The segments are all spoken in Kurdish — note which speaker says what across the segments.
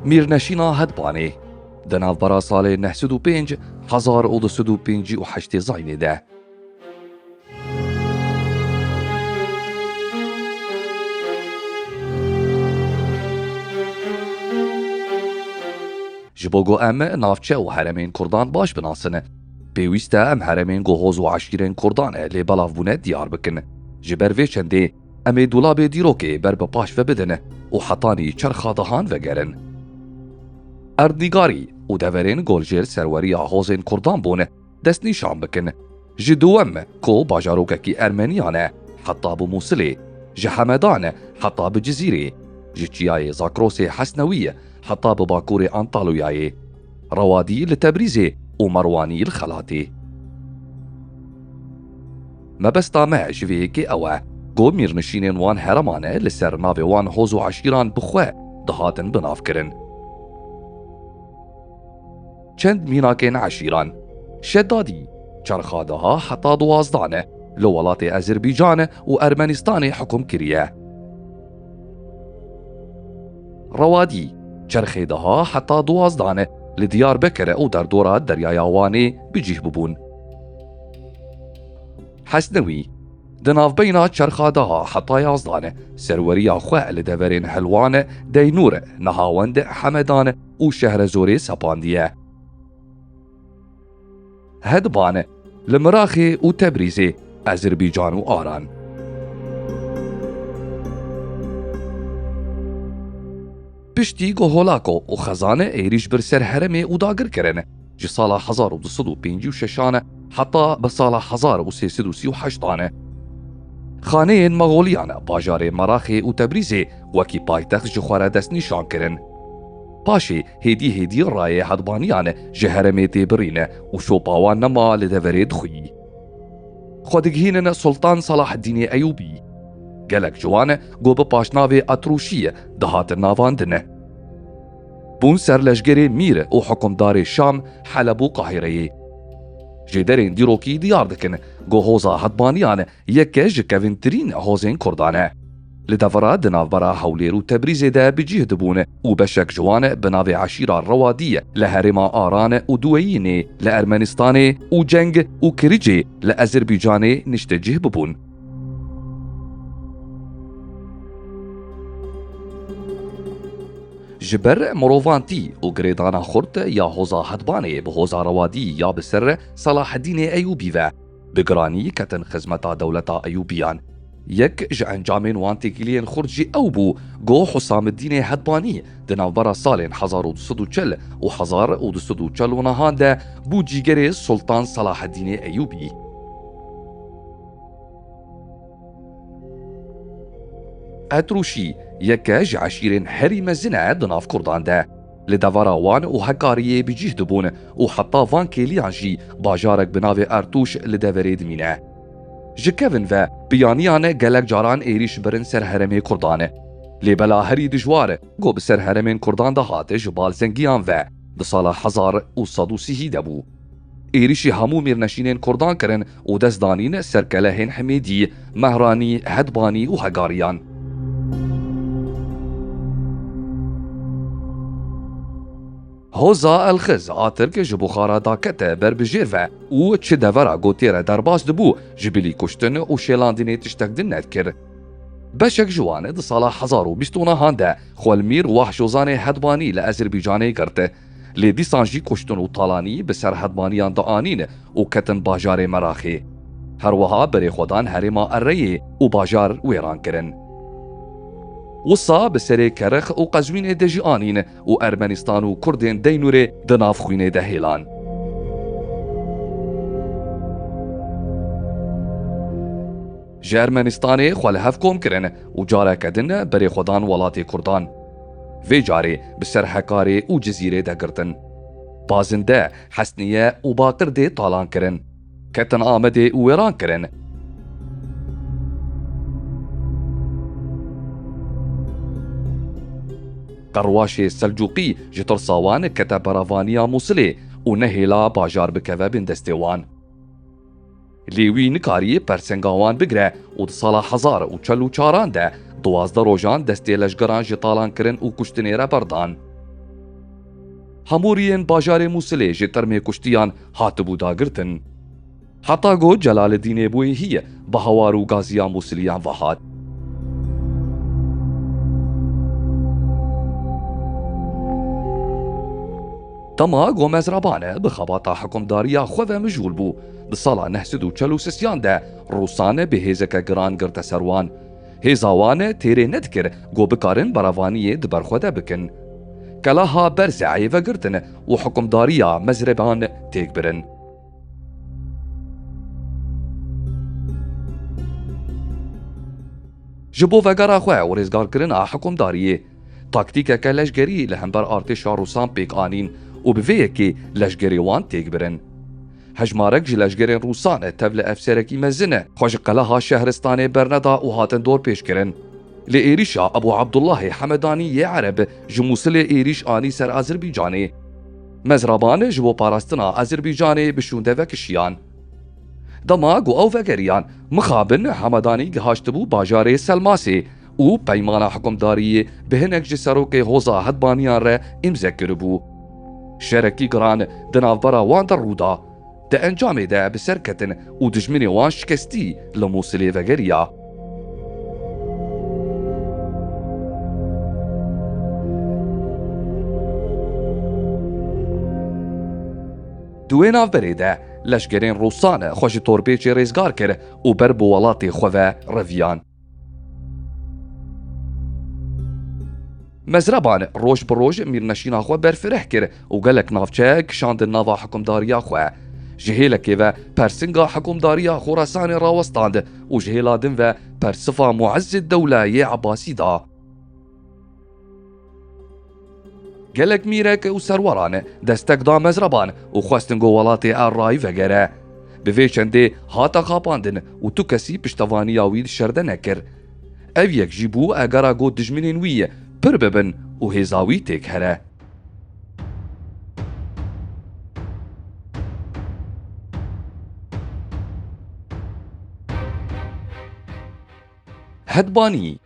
Speaker 1: Mîrneşîna Hedbanê di navbera salê neh sed û pênc hezar û du sed û pêncî û heştê Zaynê de ji bo ku em navçe û heremên Kurdan baş binasin, Pêwîst e em heremên ku hoz û eşîrên Kurdan e lê belav bûne diyar bikin. Ji ber vê çendê em ê dolabê dîrokê ber bi paş ve bidin û hetanî çerxa dahan vegerin. Erdnîgarî û deverên goljêr serweriya hozên Kurdan bûn destnîşan bikin. Ji Duwem ku bajarokekî Ermeniyan e heta bi Mûsilê, ji Hemedan heta bi Cizîrê, ji çiyayê Zakrosê Hesnewî heta bi bakurê Antalûyayê, Rewadî li Tebrîzê û Merwanî li Xelatê. Mebesta me ji vê yekê ew e ku mîrnişînên wan hereman e li ser navê wan hoz û eşîran bi xwe dihatin binavkirin. Çend mînakên eşîran Şedadî, Çerxadeha heta duwazda ne li welatê Ezirbîcan û Ermenistanê hikum kiriye. Rewadî, çerxê daha heta duwazdan e, li Diyarbekir û derdora Deryaya Wanê bi cih bûbûn. Hesnewî, di navbeyna çerxa daha heta yazdan e, serweriya xwe li deverên Helwan, Deynûr, Nehawend, Hemedan û Şehrezorê sepandiye. Hedban e. Li Miraxê û Tebrîzê, Ezirbican û Aran. Piştî ku Holako û Xezane êrîş bir ser heremê û dagir kirin, ji sala hezar û du sed û pêncî û şeşan e heta bi sala hezar û sê sed û sî û heştan e. Xaneyên Maxoliyan bajarê Miraxê û Tebrîzê wekî paytext ji xwe re destnîşan kirin. Paşê Hêdî hêdî rayê hedbaniyan ji heremê tê birîne û sopa wan nema li deverê dixwî. Xwe digihînin Sultan Salaheddînê Eyûbî. Gelek ji wan ku bi paşnavê Etrûşî dihatin navandin. Bûn serleşgerê mîr û hikûmdarê Şam, Heleb û Qahîreyê. Ji derên dîrokî diyar dikin ku hoza hedbaniyan Yeke ji kevîntirîn hozên Kurdan e. Li devera di navbera Hewlêr û Tebrîzê de bi cîh dibûn û beşek ji wan bi navê eşîra Rewadî li herêma Aran û Duweyînê li Ermenîstanê û Ceng û Kiricê li Ezerbycanê niştecîh bibûn. Ji ber mirovantî û girêdana xurt ya hoza Hedbanê bi hoza Rewadî ya bi ser Selahedînê Eyûbî ve, Bi giranî ketin xizmeta dewleta Eyûbiyan. Yek ji encamên wan têkiliyên xurt jî ew bû ku Husamiddînê Hedbanî di navbera salên hezar û du sed û çil û hezar û du sed û çil û nihan de bû cîgerê Sultan Selaheddînê Eyûbî. Qetrûşî yeke ji eşîrên herî mezin e di nav kurdan de. Li devera wan û Hekariyê bi cîh dibûn û heta van kêliyan jî bajarek bi navê Ertûş li deverê dimîne. Ji kevin ve piyaniyan gelek caran êrîş birin ser herêmê Kurdan. Lê bela herî dijwar ku bi ser herêmên Kurdan de hat ji balzengiyan ve di sala hezar û sed û sî hî de bû. Êrîşî hemû mêrnişînên Kurdan kirin û dest danîn ser kelehên Himêdî, Mehranî, Hedbanî û Hegariyan. Hoza Elxiz a Tirk ji Buxara dakete ber bi jêr ve û çi devera gotê re derbas dibû ji bilî kuştin û şêlandinê tiştek din nedikir. Beşek ji wan di sala hezar û bîst û nehan de Xwelmîr Wahşozanê Hedbanî li Ezîrbîcanê girt. Lê dîsan jî kuştin û talanî bi ser hedmaniyan dianîn û ketin bajarê Meraxê. Her wiha berê xwe dan herêma Ereyê û bajar wêran kirin. Wisa bi serê Kerix û Qezwînê de jî anîn û Ermenistan û Kurdên Deynûrê di nav xwînê de hêlan. Ji Ermenistanê xwe li hev kom kirin û careke din berê xwe dan welatê Kurdan. Vê carê bi ser Hekarê û Cizîrê de girtin. Pazinde, Hesniye û Baqir dê talan kirin. Ketin Amedê û wêran kirin. Qerwaşê Selcuqî ji tirsa wan kete beravaniya Mûsilê û nehêla bajar bikeve bin destê wan. Lê wî nikariye persenga wan bigire û di sala hezar û çel û çaran de duwazdeh rojan destê leşgeran ji talankirin û kuştinê re berdan. Hamûriyên bajarê Mûsilê ji termê kuştiyan hatibû dagirtin. Heta ku Celaleddînê bûye hî bi hawar û gaziya Mûsiliyan ve hat. Tama Gomez Rabane bi xebata hikumdariya xwe ve mijûl bû. Di sala neh sed û çel û sisiyan de Rûsane bi hêzeke giran girte ser wan. Hêza wan têrê nedikir ku bikarin berevaniyê di ber xwe de bikin. Kelaha Berzeyê vegirtin û hikumdariya Mezreban têk birin. Ji bo vegera xwe û rêzgarkirina hikumdariyê. Taktîkeke leşgerî li hember artêşa Rûsan pêk anîn û bi vê yekê leşgerê wan têk birin. Hejmarek ji leşgerên Rûsan e tevli efserekî mezin e xwe ji qeleha Şehristanê berneda û hatin dorpêçkirin. Lê êrîşa Ebû Abdullahê Hemedanî yê Ereb ji Mûsilê êrîş anî ser Azerbaycanê. Mezraban ji bo parastina Azerbaycanê bi şûnde vekişiyan. Dema ku ew vegeriyan mixabin Hemedanî gihaştibû bajarê Selmasê û peymana hikumdariyê bi hinek ji serokê Hoza Hedbaniyan re îmze kiribû. Şerekî giran di navbera wan de rû da. Di encamê de bi ser ketin û dijminê wan şikestî li Mûsilê vegeriya. Di wê navberê de leşkerên Rûsan xwe ji Torbêçê rêzgar kir û ber bi welatê xwe ve reviyan. Mezreban roj bi roj mîrneşîna xwe berfireh kir û gelek navçe kişandin nava hikumdariya xwe. Ji hêlekê ve persinga hikumdariya Xorasanê rawestand û ji hêla din ve persifa Muezzedewle yê Ebasî da. Gelek mîrek û serweran destek da mezraban û xwestin ku welatê erayî vegere. Bi vê çendê hate xapandin û tu kesî piştevaniya wî di şerde nekir. Ev yek jî bû egera ku dijminên wî pir bibin û hêza wî têk here. Hedbanî.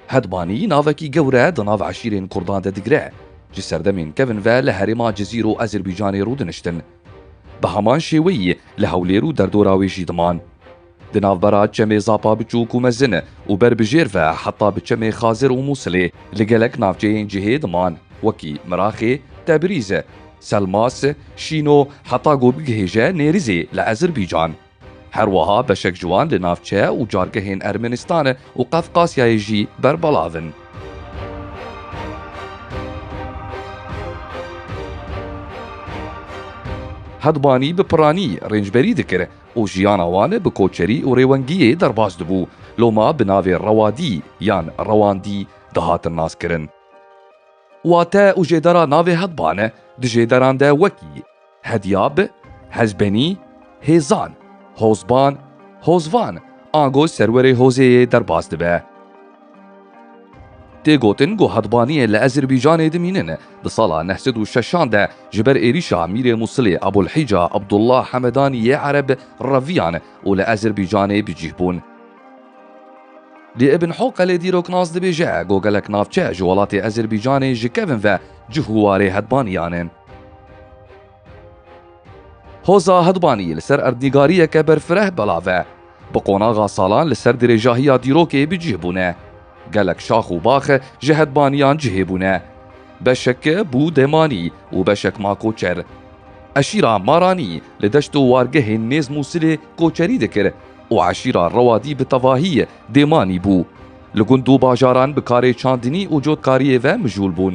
Speaker 1: Hedbanî navekî gewre di nav eşîrên Kurdan de digire. Ji serdemên kevin ve li herêma Cizîr û Ezerbaycanê rûdiniştin. Bi heman şêweyî li Hewlêr û derdora wê jî diman. Di navbera çemê Zapa biçûk û mezin û ber bi jêr ve heta bi çemê Xazir û Mûsilê li gelek navçeyên cihê diman wekî Miraxê, Tebrîz, Selmas, Şîno heta ku bigihêje Nêrizê li Ezirbican. Her wiha beşek ji wan li navçe û cargehên Ermenistan û Qefqasyayê jî berbelav in. Hedbanî bi piranî rêncberî dikir. û jiyana wan bi koçerî û rêwengiyê derbas dibû, loma bi navê Rewadî yan Rewandî dihatin naskirin. Wate û jêdera navê Hedban e, di jêderan de wekî, Hedyab, Hezbenî, Hêzan, Hozban, Hozvan ango serwerê hozê yê derbas dibe. Tê gotin ku hetbaniyê li Ezerbaycanê dimînin. Di sala neh sed û şeşan de ji ber êrîşa Mîrê Mûsilê Ebûlhîca Ebdullah Hemedanî yê Ereb reviyan û li Ezerbaycanê bi cîh bûn. Lê Ibn Hoqelê dîroknas dibêje ku gelek navçe ji welatê Ezerbaycanê ji kevin ve cih û warê hetbaniyan in. Hoza Hedbanî li ser erdnîgariyeke berfireh belav e. Bi qonaxa salan li ser dirêjahiya dîrokê bi cih bûne. Gelek şax û bax ji hedbaniyan cihê bûne. Beşek bû demanî û beşek ma koçer. Eşîra Maranî li deşt û wargehên Mêzm û Silê koçerî dikir û eşîra Rewadî bi tevahî demanî bû. Li gund û bajaran bi karê çandinî û cotkariyê ve mijûl bûn.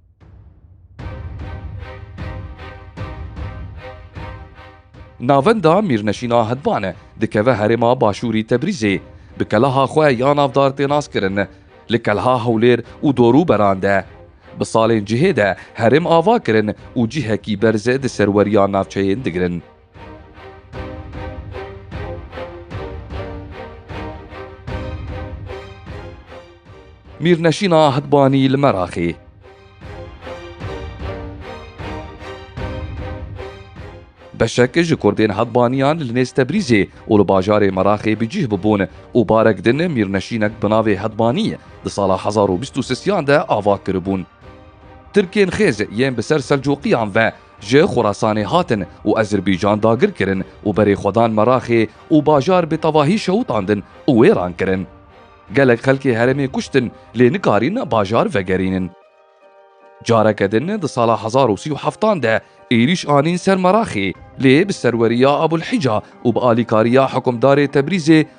Speaker 1: Navenda Mîrneşîna Hedvan e, dikeve herêma Başûrî Tebrîzê. Bi keleha xwe ya navdar tê naskirin. Li keleha Hewlêr û dorûberan de. Bi salên cihê de herêm ava kirin û cihekî berz di serweriya navçeyên digirin. Mîrneşîna Ahidbanî li Meraqê. Beşek ji kurdên Hedbaniyan li nêz Tebrîzê û li bajarê Meraqê bi cîh bibûn û barek din mîrneşînek bi navê Hedbanî di sala hezar û bîst û sisiyan de ava kiribûn. Tirkên xêz yên bi ser Selcuqiyan ve Ji Xurasanê hatin û Ezîrbîcan dagir kirin û berê xwe dan Meraxê û bajar bi tevahî şewitandin û wêran kirin. Gelek xelkê herêmê kuştin lê nikarîn bajar vegerînin. Careke din di sala hezar û sî û heftan de êrîş anîn ser Meraxê lê bi serweriya Abûlhîca û bi alîkariya hikûmdarê Tebrîzê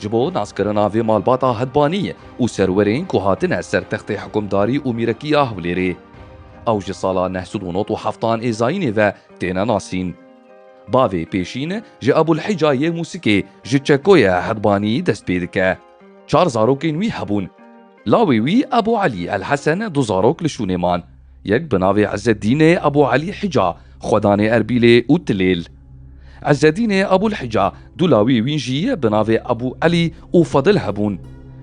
Speaker 1: Ji bo naskirina vê malbata hetbanî û serwerên ku hatine ser textê hikumdarî û mîrekiya Hewlêrê. Ew ji sala neh sed û not û heft an ê zayînê ve têne nasîn. Bavê pêşîn ji Ebûlhîca yê Mûsikê ji Çekoyê Hetbanî dest pê dike. Çar zarokên wî hebûn. Lawê wî Ebû Elî El Hesen du zarok li şûnê man. Yek bi navê Îzzeddînê Ebû Elî Hica, xwedanê Erbîlê û Tilêl. Îzzeddînê Ebûl Hica du lawê wî jî bi navê Ebû Elî û Fedil hebûn.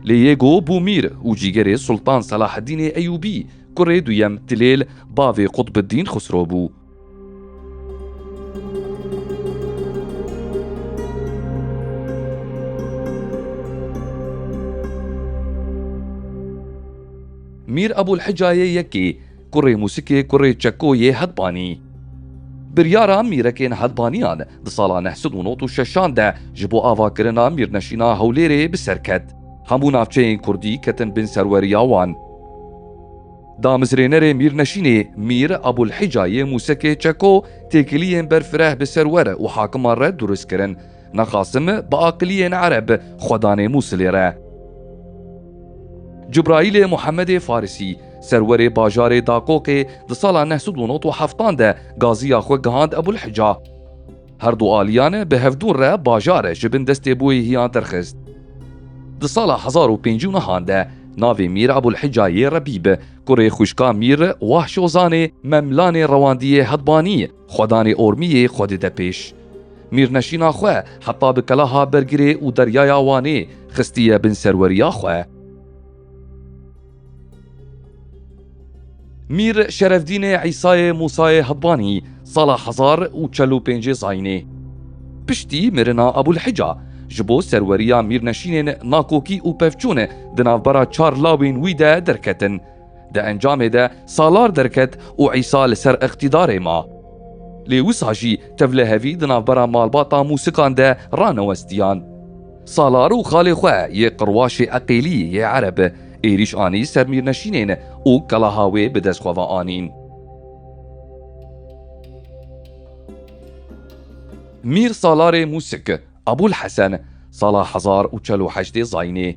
Speaker 1: Lê yê go bû mîr û cîgerê Sultan Selaheddînê Eyûbî, kurê duyem Tilêl, bavê Qutbiddîn Xusro bû. Mîr Ebûl Hicayê Yekî, kurê mûsikê, kurê çeko yê Hedbanî. Biryara mîrekên Hedbaniyan di sala neh sed û not û şeşan de ji bo avakirina mîrneşîna Hewlêrê bi ser ket. Hemû navçeyên kurdî ketin bin serweriya wan. Damezrênerê Mîrneşînê Mîr Abûlhîca yê Mûsekê Çeko têkiliyên ber fireh bi ser we re û hakiman re durist kirin. Na Qasim bi aqiliyên ereb xwe danê Mûsilê re. Cibraîlê Muhemedê Farisî, serwerê bajarê Daqoqê di sala neh sed û nod û heftan de gaziya xwe gihand Ebûlhîca. Her du aliyan e bi hevdûn re bajar e ji bin destê bûyîhiyan derxist. Di sala hezar û pêncî û nihan de navê Mîr Ebûlhîca yê Rebî bi kurê xwîşka Mîr Wahşozanê Memlanê rewandiyê Hedbanî xwedanê Ormîyê xwe dide pêş. Mîrneşîna xwe heta bi kelaha Bergirê û deryaya Wanê xistiye bin serweriya xwe. Mîr Şerefdînê Îsayê Musayê Hibbanî sala hezar û çel û pêncê zayînê. Piştî mirina Ebûlhîca ji bo serweriya mîrneşînên Nakokî û Pevçûn di navbera çar lawên wî de derketin. Di encamê de salar derket û Îsa li ser îqtîdarê ma. Lê wisa jî tevlihevî di navbera malbata Mûsikan de ranewestiyan. Salar û xalê xwe yê qirwaşê Eqêlî yê Ereb êrîş anî ser Mîrneşînên û Kalaha wê bi dest xwe ve anîn. Mîr Salarê Mûsik, Abûl Hesen, sala hezar û çel û heştê zayînê.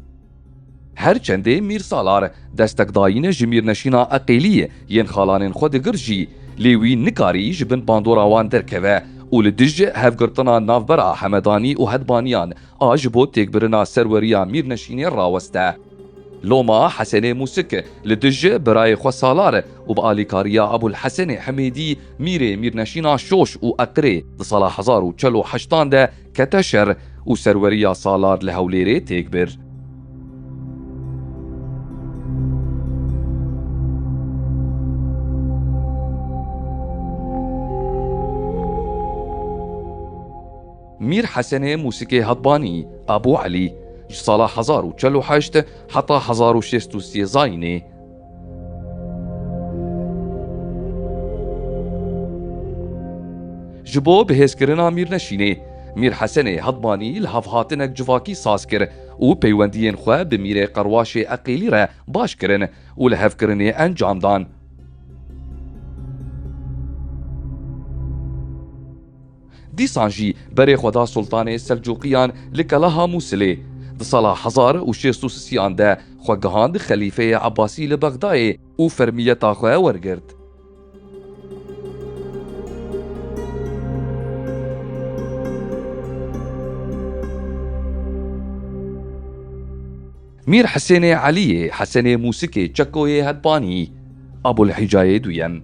Speaker 1: Her çendê Mîr Salar destekdayîn ji Mîrneşîna Eqîlî yên xalanên xwe digir jî, lê wî nikarî ji bin bandora wan derkeve û li dij hevgirtina navbera Hemedanî û Hedbaniyan A ji bo têkbirina serweriya Mîrneşînê raweste. Loma Hesenê Mûsik li dij birayê xwe salar e û bi alîkariya Ebûl Hesenê Himêdî mîrê Mîrneşîna Şoş û Eqirê di sala hezar û çel û heştan de kete şer û serweriya Salar li Hewlêrê têk bir. Mîr Hesenê Mûsikê Hadbanî, Abû Elî, ji sala hezar û çel û heşt heta hezar û şêst û sê zayînê. Ji bo bihêzkirina Mîrneşînê, Mîr Hesenê Hadbanî li hev hatinek civakî saz kir û peywendiyên xwe bi Mîrê Qerwaşê Eqîlî re baş kirin û lihevkirinê encam dan. Dîsan jî berê xwe da Sultanê Selcuqiyan li Kelaha Mûsilê. Di sala hezar û şêst û sisiyan de xwe gihand xelîfeyê Ebasî li Bexdayê û fermiyeta xwe wergirt. Mîr Hisênê Eliyê, Hesenê Mûsikê, Çekoyê Hedpanî, Abûlhîcayê Duyem.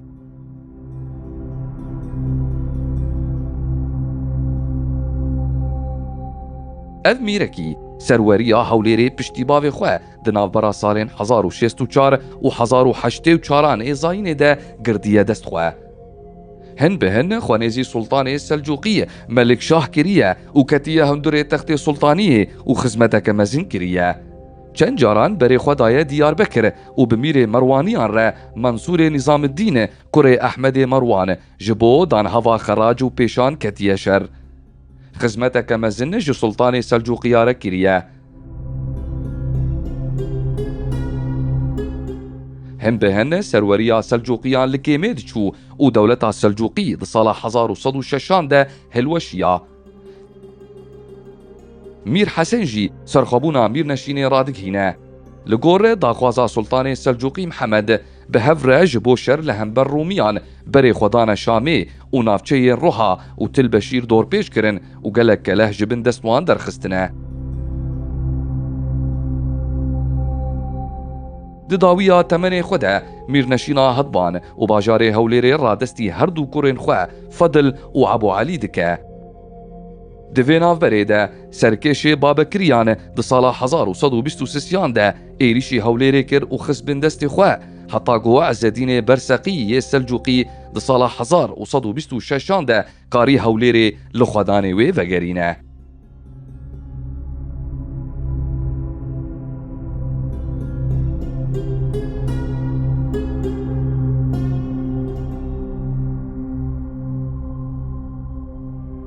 Speaker 1: Ev mîrekî serweriya Hewlêrê piştî bavê xwe di navbera salên hezar û şêst û çar û hezar û heştê û çaran ê zayînê de girdiye dest xwe. Hin bi hin xwenêzî Sultanê Selcuqî Melik Şah kiriye û ketiye hundurê textê Sultaniyê û xizmeteke mezin kiriye. Çend caran berê xwe daye Diyarbekir û bi mîrê Merwaniyan re Mansûrê Nîzamiddîn kurê Ehmedê Merwan ji bo danhava xerac û pêşan ketiye şer. Xizmeteke mezin ji Sultanê Selcuqiya re kiriye. Hin bi hin serweriya Selcuqiyan li kêmê diçû û dewleta Selcuqî di sala hezar û sed û şeşan de hilweşiya. Mîr Hesen jî serxwebûna mîrneşînê radighîne. Li gor daxwaza Sultanê Selcuqî Mihemed Bi hev re ji bo şer li hember Rûmiyan berê xwe dane Şamê û navçeyên Roha û Til Beşîr dorpêç kirin û gelek keleh ji bin dest wan derxistine. Di dawiya temenê xwe de Mîrneşîna Hedban û bajarê Hewlêrê radestî her du kurên xwe Fedil û Ebû Elî dike. Di vê navberê de serkêşê Babekiriyan di sala hezar û sed û bîst û sisiyan de êrîşî Hewlêrê kir û xist bin destê xwe heta ku Îzzedînê Berseqî yê Selcûqî di sala hezar û sed û bîst û şeşan de karî Hewlêrê li xwedanê wê vegerîne.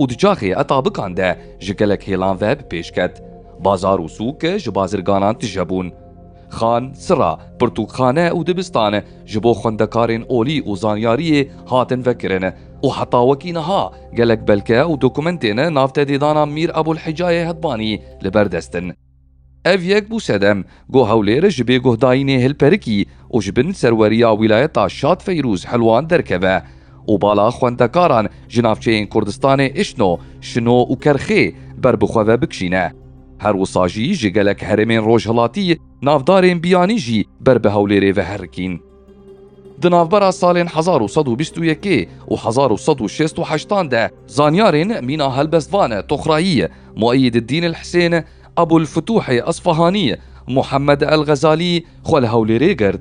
Speaker 1: û di çaxê etabikan de ji gelek hêlan ve bi pêş ket. Bazar û sûk ji bazirganan tije bûn. Xan, sira, pirtûkxane û dibistan ji bo xwendekarên olî û zanyariyê hatin vekirin û heta wekî niha gelek belge û dokumentên navtedêdana Mîr Ebûlhecayê Hedbanî li ber dest in. Ev yek bû sedem ku Hewlêr ji bêguhdayînê hilperikî û ji bin serweriya wîlayeta Şad Feyrûz Helwan derkeve û bala xwendekaran ji navçeyên Kurdistanê Îşno, Şino û Kerxê ber bi xwe ve bikişîne. Her wisa jî ji gelek herêmên rojhilatî navdarên biyanî jî ber bi Hewlêrê ve herikîn. Di navbera salên hezar û sed û bîst û yekê û hezar û sed û şêst û heştan de zanyarên mîna helbestvan Toxrayî, Mueyyididdîn el Hisên, Ebul Fituhê Esfahanî, Muhemmed el Xezalî xwe li Hewlêrê girt.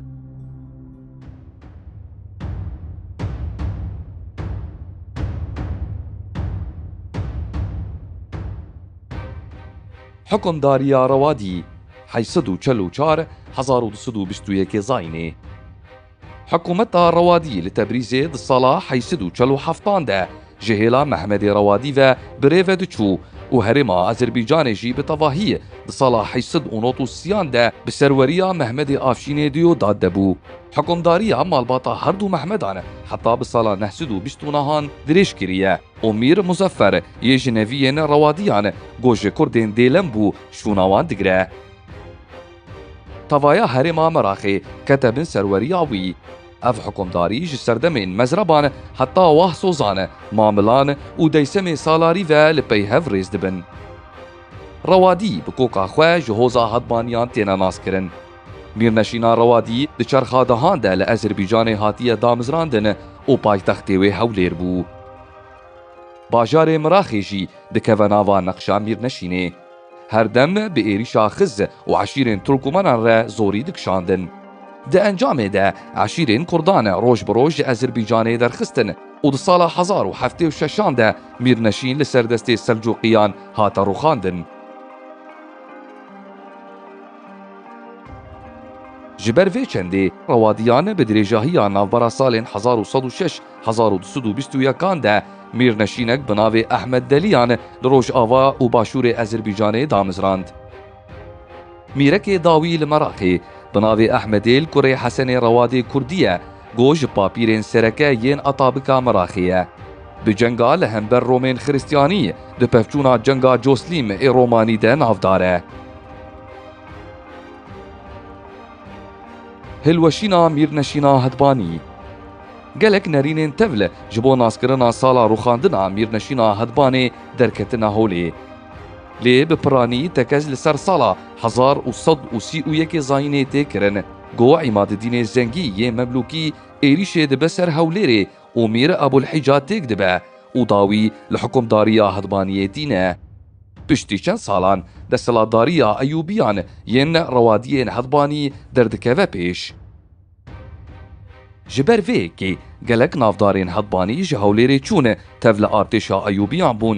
Speaker 1: Hukmdariya Rewadî. heşt sed û çil û çar hezar û du sed û bîst û yekê Zaynê Hikûmeta Rewadî li Tebrîzê di sala heşt sed û çil û heftan de ji hêla Mehmedê Rewadî ve bi rê ve diçû û herêma Azerbaycanê jî bi tevahî di sala heşt sed û nod û siyan de bi serweriya Mehmedê Afşînê di yo dad de bû. Hikûmdariya malbata her du Mehmedan heta bi sala neh sed û bîst û nihan dirêj kiriye. Omîr Muzeffer, yê ji neviyên Rewadiyan, ku ji Kurdên Dêlem bû, şûna wan digire. Tavaya herêma Meraqê kete bin serweriya wî. Ev hikumdarî ji serdemên Mezreban heta Wah Sozan, Mamilan û Deysemê Salarî ve li pey hev rêz dibin. Rewadî bi koka xwe ji hoza Hadbaniyan têne naskirin. Mîrneşîna Rewadî di çerxa dehan de li Ezerbaycanê hatiye damizrandin û paytextê wê Hewlêr bû. Bajarê Miraxê jî dikeve nava neqşa Mîrneşînê. Her dem bi êrîşa xiz û eşîrên Turkmenan re zorî dikişandin. Di encamê de eşîrên Kurdan roj bi roj ji Ezerbaycanê derxistin û di sala hezar û heftê û şeş an de Mîrneşîn li ser destê Selcuqiyan hate rûxandin. Ji ber vê çendê rewadiyan bi dirêjahiya navbera salên hezar û sed û şeş hezar û du sed û bîst û yekan de mîrneşînek bi navê Ehmed Deliyan li rojava û başûrê Ezerbicanê damizrand. Mîrekê dawî li Meraqê bi navê Ehmedê li kurê Hesenê Rewadê Kurdî ye. Go ji papîrên sereke yên Atabika Miraxê ye. Bi cenga li hember Romên Xiristyanî di pevçûna Cenga Coslîm ê Romanî de navdar e. Hilweşîna Mîrneşîna Hedbanî Gelek nerînên tevl ji bo naskirina sala rûxandina Mîrneşîna Hedbanê derketine holê. Lê bi piranî tekez li ser sala hezar û sed û sî û yekê Zayînê tê kirin. Gowa Îmadedînê Zengî yê Memlûkî êrîşê dibe ser Hewlêrê û Mîr Ebûlhîca têk dibe û dawî li hikumdariya Hidbaniyê tîne. Piştî çend salan desthilatdariya Eyûbiyan yên Rewadiyên Hidbanî derdikeve pêş. Ji ber vê yekê gelek navdarên Hidbanî ji Hewlêrê çûn tev li artêşa Eyûbiyan bûn